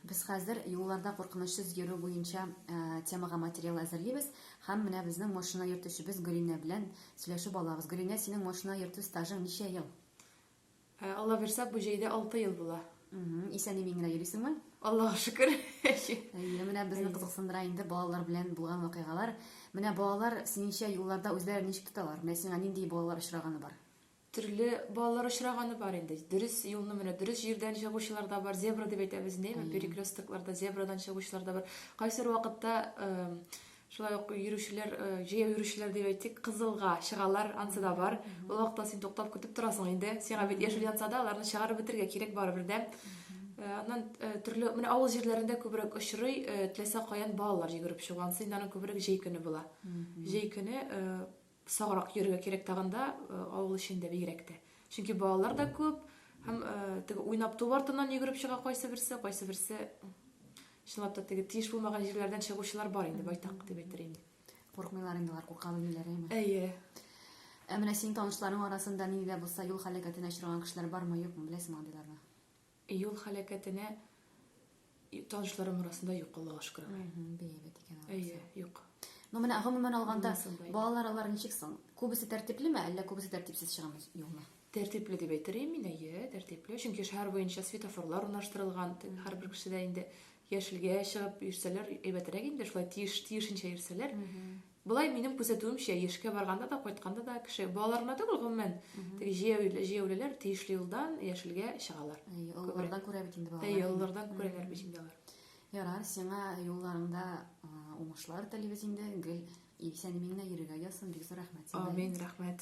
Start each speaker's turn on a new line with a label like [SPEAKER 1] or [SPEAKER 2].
[SPEAKER 1] Без хәзер юлларда куркынычсыз йөрү буенча темага материал әзерлибез һәм менә безнең машина йөртүчебез Гөлинә белән сөйләшеп алабыз. Гөлинә, синең машина йөртү стажың ничә ел? Алла бирсә, бу җәйдә алты ел була. Исән-имин генә йөрисеңме? Аллага шөкер. Әйе, менә безне кызыксындыра инде балалар белән булган вакыйгалар. Менә балалар синеңчә юлларда үзләрен ничек тоталар? Менә сиңа нинди балалар очраганы бар? Төрле балалар очраганы бар инде. Дөрес юлны менә дөрес җирдән чыгучылар да бар. Зебра дип әйтәбез инде, әйме, перекрестокларда зебрадан чыгучылар да бар. Кайсыр вакытта шулай ук йөрүчеләр, җәяү йөрүчеләр дип әйтик, кызылга чыгалар, ансы да бар. Ул вакытта син туктап көтеп торасың инде. Сиңа бит яшел янса да, аларны чыгарып бетергә кирәк барыбер дә. Аннан төрле, менә авыл җирләрендә күбрәк очрый, теләсә каян балалар йөгереп чыгу. Ансы инде аның күбрәк җәй көне була. Җәй көне Саграк йөрергә кирәк тагын да, авыл эчендә бигрәк тә. Чөнки балалар да күп, һәм теге уйнап ту артыннан йөгереп чыга кайсы берсе, кайсы берсе чынлап та теге тиеш булмаган җирләрдән чыгучылар бар инде байтак дип әйтер инде. Курыкмыйлар инде алар, курка белмиләр әйме? Әйе. Ә менә синең танышларың арасында нинди дә булса юл һәлакәтенә очраган кешеләр бармы, юкмы, беләсеңме андыйларны? Юл һәлакәтенә танышларым арасында юк, Аллага шөкер. Әһә, бәябәт икән алар. Әйе, юк. Ну, менә гомумән алганда, балалар алар ничек соң? Күбесе тәртиплеме, әллә күбесе тәртипсез чыгамы юлны? Тәртипле дип әйтер идем мин, әйе, тәртипле. Чөнки шәһәр буенча светофорлар урнаштырылган, һәрбер кешедә инде Яшелгә чыгып йөрсәләр әйбәтрәк инде, шулай тиеш, тиешенчә йөрсәләр. Болай минем күзәтүемчә, яшькә барганда да, кайтканда да кеше, балалар гына түгел, гомумән, теге җәяүле- җәяүлеләр тиешле юлдан яшелгә чыгалар. Әйе, Күбрәк. олылардан күрә бит инде балалар. Әйе, инде. олылардан күрәләр бит инде алар. Ярар, сиңа юлларыңда а, уңышлар телибез инде. Гел исән-имин генә йөрергә язсын. Бик зур рәхмәт сиңа. Амин, рәхмәт.